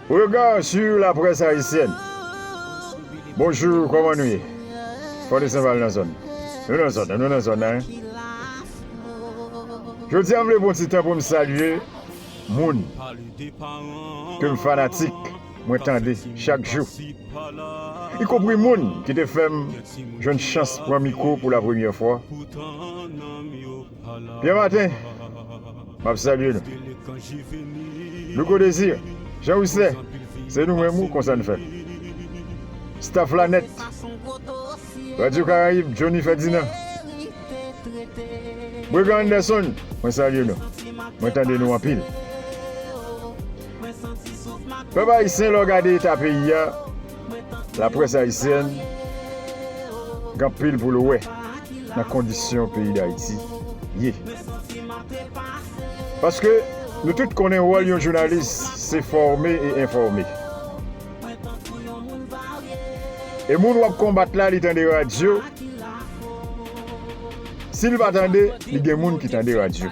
Regard sur la presse haïtienne Bonjour kòman nou ye Fort de Saint-Val nan zòn Nou nan zòn nan Nou nan zòn nan Jodi a m vle pran ti tan pou m salye moun ke m fanatik. mwen tande chak jou, ikompri moun ki te fè m jwenn chans pran mikwo pou lapremyè fwa. Pierre Martin, m ap salye nou. Louko Desir, Jean Wisler, se nou menm wi konsa n fè. Staff la nèt, Radio Caraïbes, Johnny Ferdinand, Bregan Anderson, mwen salye nou, mwen tande nou anpil. Pèp ayisyen lè w gade eta peyi a la près ayisyèn gen anpil pou l wè nan kondisyon peyi dayiti ye paske nou tout konnen wòl yon jounalis se fòme e enfòme e moun w ap konbat la li tande radyo si l pa tande li gen moun ki tande radyo.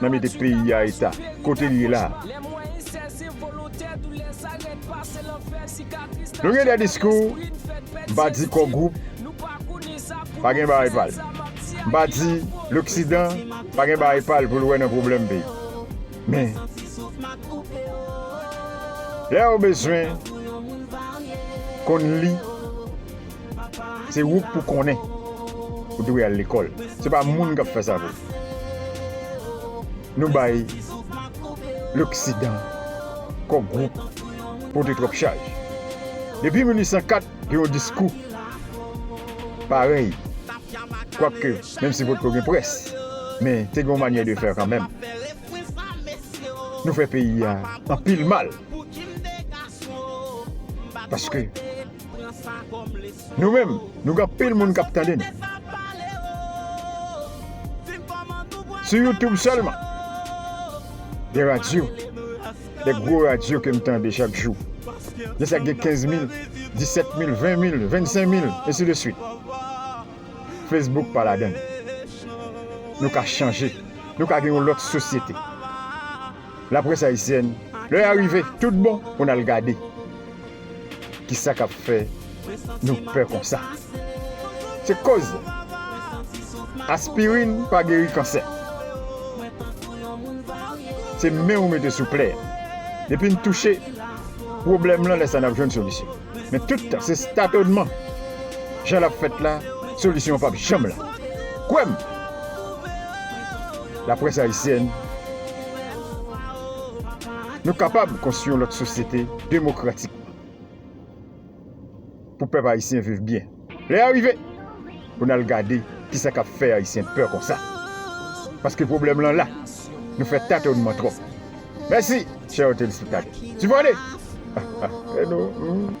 nan mete peyi a eta kote li ye la a. Nou gen de diskou, m pa di Core Group pa gen bagay pa l, m pa di loksidan pa gen bagay pa l pou l wè nan pwoblèm peyi. Men, lè ou bezwen konn li. Se ou k pou konnen ou dwe al lekòl. Se pa moun k ap fè sa pou ou. Nou bay loksidan kò gwoup pote twòp chaj. Depi 1804 gen yon diskou parèy kwakè menm si potko gen près men te gen yon manyè de fè kanmenm. Nou fè peyi a anpil mal paske. Nou menm, nou gen anpil moun k ap tande n. Sou YouTube sèlman, gen radyo, de gwo radyo ke m tande chak jou. Gen sa k gen 15 mil, 17 mil, 20 mil, 25 mil, ensi de suit. Facebook pa ladan l. Nou ka chanje, nou ka gen yon lòt sosyete. Laprès ayisyèn, lè a rive tout bon pou n al gade ki sa k ap fè nou pè konsa. Se koz aspirin pa geri kansè. Se men ou mete sou plè a. Depi n touche pwoblèm lan lè sa n ap jwenn solisyon. Men tout tan se statonman jan l ap fèt la solisyon an p ap janm la. Kwè m! Laprès ayisyèn, nou kapab konstwi yon lòt sosyete demokratikman pou pèp ayisyen viv byen. Lè a rive pou n al gade ki sa k ap fè ayisyen pè konsa. Paske pwoblèm lan la. Nou fè tatonman twòp. Mèsi, chè ou telespektatè. Sipòte!